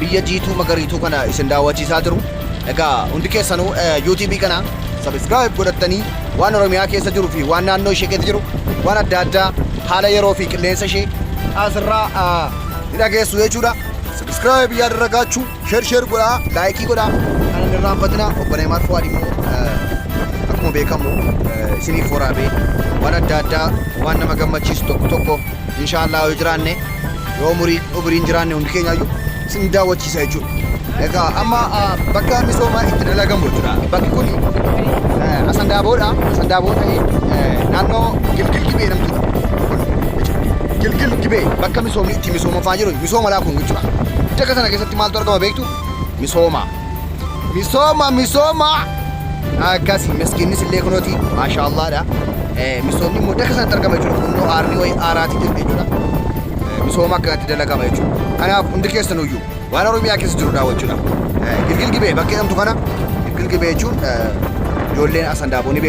biyya jiituu magariituu kana isin daawwachiisaa jiru. Egaa hundi keessanuu yuutuubii kana sabiskiraayib godhattanii waan Oromiyaa keessa jiruu fi waan naannoo ishee keessa jiru waan adda addaa haala yeroo fi qilleensa ishee asirraa ni dhageessu jechuudha. Sabiskiraayib yaada irra gaachuu sheer sheer godhaa laayikii godhaa kana hin irraanfatina obbo Neemaar Fuwaad immoo akkuma beekamu isiniif waraabee waan adda addaa waan nama gammachiisu tokko tokko inshaallah yoo jiraanne Yoo umurii umuriin jiraanne hundi keenyaayyuu sin daawwachiisa jechuudha. Egaa amma ah, bakka misooma itti dalagamu jechuudha. Bakki kun eh, Asandaaboodha. Asandaaboo ta'ee eh, naannoo Gilgil Gibee jedhamtudha. Kun jechuudha. Gilgil Gibee bakka misoomni itti misoomafaa jiru misooma laa kun jechuudha. Daga sana keessatti maaltu argama beektu? Misooma. misooma misooma akkasi miskiinnis illee kunooti maashaa allaadha misoomni immoo daka sanatti argama jechuudha funnoo aarrii wayii aaraati jirti jechuudha misooma akkanatti dalagama jechuudha kanaaf hundi keessanuyyuu waan oromiyaa keessa jiru daawwachuudha gilgil gibee bakka jedhamtu kana gilgil gibee jechuun ijoolleen asan daaboo ni beeku